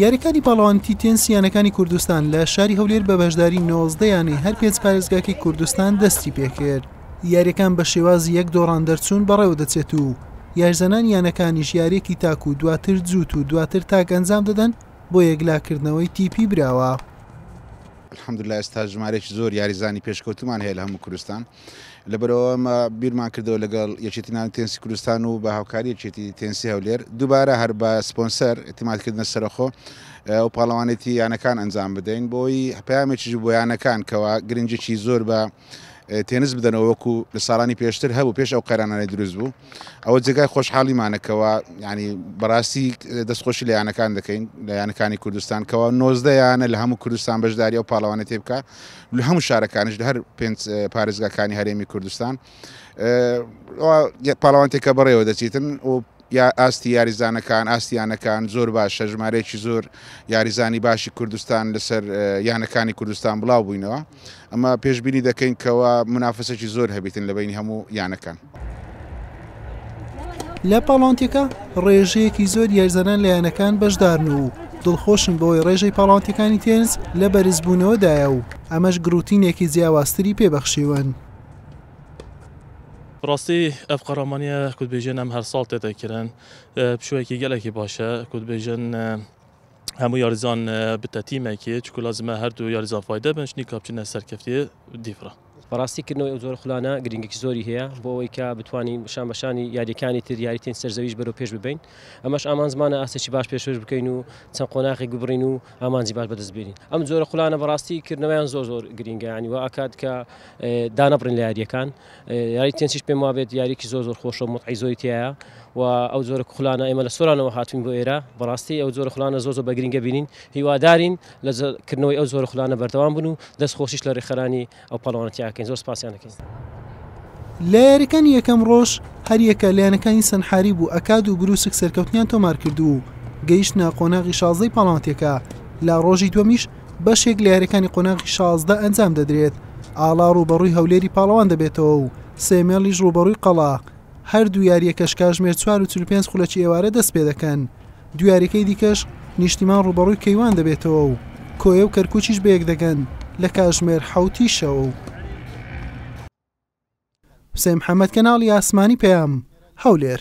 یاریەکانی پاڵەوانیتی تێنس یانەکانی کوردستان لە شاری هەولێر بە بەشداری نۆزدە یانەی هەر پێنج پارێزگاکەی کوردستان دەستی پێکرد یاریەکان بە شێوازی یەک دۆڕان دەرچوون بەڕێوە دەچێت و یاریزانان یانەکانی ژیارێکی تاک و دواتر جووت و دواتر تاک ئەنجام دەدەن بۆ یەکلاکردنەوەی تیپی براوە. الحمدلله ئێستا ژمارەیەکی زۆر یاریزانی پێشکەوتومان هەیە لە هەموو کوردستان. لەبەرەوە مە بیرمان کردەوە لەگەڵ یەکێتی نان تێنسی کوردستان و بە هاوکاری یەکێتی تێنسی هەولێر دووبارە هەر بە سپۆنسەر اعتمادکردنە سەرخۆ و پاڵەوانێتی یانەکان ئەنجام بدەین بۆی پامێکیش بۆ یانەکان کەوا گرنگێکی زۆر بە تێنس بدەنەوە وەکو لە ساڵانی پێشتر هەبوو پێش ئەو قەرانانی دروست بوو ئەوە جێگای خۆشحاڵیمانەکەەوە ینی بەڕاستی دەستخۆشی لە یانەکان دەکەین لە یانەکانی کوردستان کەەوە نۆزدە یانە لە هەموو کوردستان بەشداری و پاڵەوانە تێبکە لە هەموو شارەکانیش لە هەر پێنج پارێزگاکانی هەرێمی کوردستان پاڵەوانتێکە بەڕێوە دەچیتن و یا ئاستی یاریزانەکان ئاستیانەکان زۆر باشە ژمارەیەکی زۆر یاریزانی باشی کوردستان لەسەر یانەکانی کوردستان بڵاو بووینەوە ئەمە پێشببینی دەکەین کەەوە منافەسێکی زۆر هەبیتن لە بینی هەموو یانەکان لە پاڵاوتێکە ڕێژەیەکی زۆر یارزانان لە یانەکان بەشدارن و دڵخۆشن بەوەی ڕێژەی پاڵاوتەکانی تێنس لە بەرزبوونەوەدایە و ئەمەش گروتینێکی جیاوازتری پێبەخشیون. ڕاستی ئەف قەڕەمانیە کوردبێژێن ئەم هەر ساڵ تێتە کرن پشوەیەکی گەلێکی باشە کوردبێژن هەموو یاریزان بتە تیمێکی چکو لازمە هەردوو یاریزان فایدە بن شنی کاپچنە سەرکەفتی دیفرە. بەڕاستی کردنەوەی ئەو جۆرە خولانە گرنگێکی زۆری هەیە بۆ ئەوەی کە بتوانین شان بەشانی یاریەکانی تر یاریتین سەرزەویش بەرەو پێش ببین ئەمەش ئامانزمانە ئاستێکی باش پێشش بکەین و چەند قۆناغی گوبڕین و ئامانجی باش بەدەست بێنین ئەم جۆرە خولانە بەڕاستی کردنەوەیان زۆر زۆر گرنگیانی و ئاکات کە دانەبڕین لە یاریەکان یاری تێنسیش پێم وابێت یاریکی زۆر زۆر خۆشە متعی زۆری تایە و ئەو جۆرە خولانە ئێمە لە سۆرانەوە هاتوین بۆ ئێرە بەڕاستی ئەو جۆرە خولانە زۆر زۆر بەگرنگە بینین هیوادارین لە کردنەوەی ئەو زۆرە خولانە بەردەوام بن و دەست خۆشیش لە رێکخەرانی ئەو پاڵەوانێتی ئەکەین زۆر سپاسیان ئەکەین. لە یاریەکانی یەکەم ڕۆژ هەریەکە لایەنەکانی سەنحاریب و ئەکاد و بروسک سەرکەوتنیان تۆمارکرد و گەیشتنە قۆناغی شازدەی پاڵاوتەکە لە ڕۆژی دومیش بەشێک لە یاریەکانی قۆناغی شازدە ئەنجام دەدرێت ئاڵا ڕوبەڕووی هەولێری پاڵەوان دەبێتەوە و سێمێڵیش ڕوبەڕووی قەڵا هەردوو یاریەکەش کاژمێر 4 و 45 خولەکی ئێوارە دەست پێ دەکەن دویارەکەی دیکەش نیشتیمان ڕووبەڕووی کەیوان دەبێتەوە و کۆیە و کەرکووکیش بەیەک دەگەن لە کاژمێر حەوت ی شەو. حوسێن محەمەد کەناڵی ئاسمانی پەیام، هەولێر.